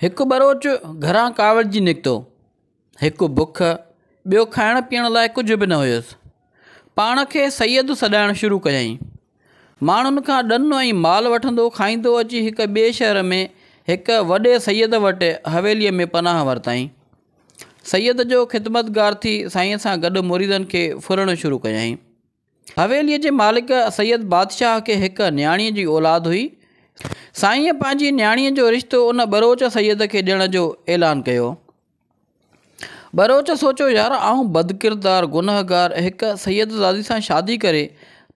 هڪ ٻروچ گهران ڪاوڙجي نڪتو. هڪ بک، ٻيو کائڻ پيئڻ لاء ڪجهه به نه هيس. پاڻ کي سيد سڏائڻ شروع ڪيائين. ماڻهن کان ڏن ۽ مال وٺندو کائيندو اچي هڪ ٻئي شهر ۾ هڪ وڏي سيد وٽ حويليء ۾ پناهه ورتائين. سيد جو خدمتگار ٿي سائينء سان گڏ مريدن کي ڦرڻ شروع ڪيائين. حويليء جي مالڪ سيد بادشاهه کي هڪ نياڻيء جي اولاد هئي. سائينء پنهنجي نياڻيء جو رشتو ان ٻروچ سيد کي ڏيڻ جو اعلان ڪيو. ٻروچ سوچيو يار آئون بدڪردار گنهگار هڪ سيدزادي سان شادي ڪري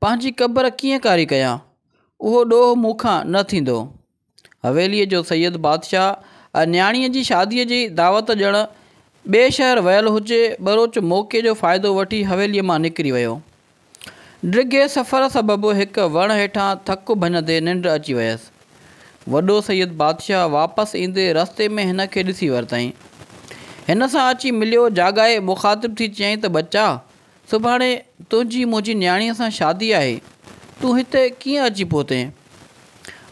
پنهنجي قبر ڪيئن ڪاري ڪيان. اهو ڏوهه مون کان نه ٿيندو. حويليء جو سيد بادشاهه ۽ نياڻيء جي شاديء جي دعوت ڏيڻ ٻئي شهر ويل هجي، ٻروچ موقعي جو فائدو وٺي حويليء مان نڪري ويو. ڊگهي سفر سبب هڪ وڻ هيٺان ٿڪ ڀڃندي ننڊ اچي ويس. وڏو سيد بادشاهه واپس ايندي رستي ۾ هن کي ڏسي ورتائين. هن سان اچي مليو، جاڳائي مخاطب ٿي چيائين ته ٻچا! سڀاڻي تنهنجي منهنجي نياڻيء سان شادي آهي، تون هتي ڪيئن اچي پهتين؟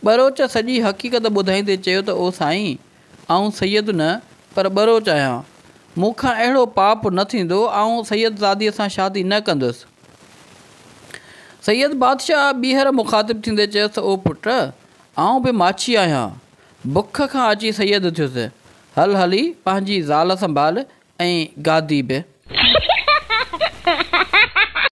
ٻروچ سڄي حقيقت ٻڌائيندي چيو ته او سائين، آئون سيد نه، پر ٻروچ آهيان. مون کان اهڙو پاپ نه ٿيندو، آئون سيدزاديء سان شادي نه ڪندس. سيد بادشاهه ٻيهر مخاطب ٿيندي چيس، او پٽ، آئون به ماڇي آهيان، بک کان اچي سيد ٿيس. هل هلي پنهنجي زال سنڀال، ۽ گادي به.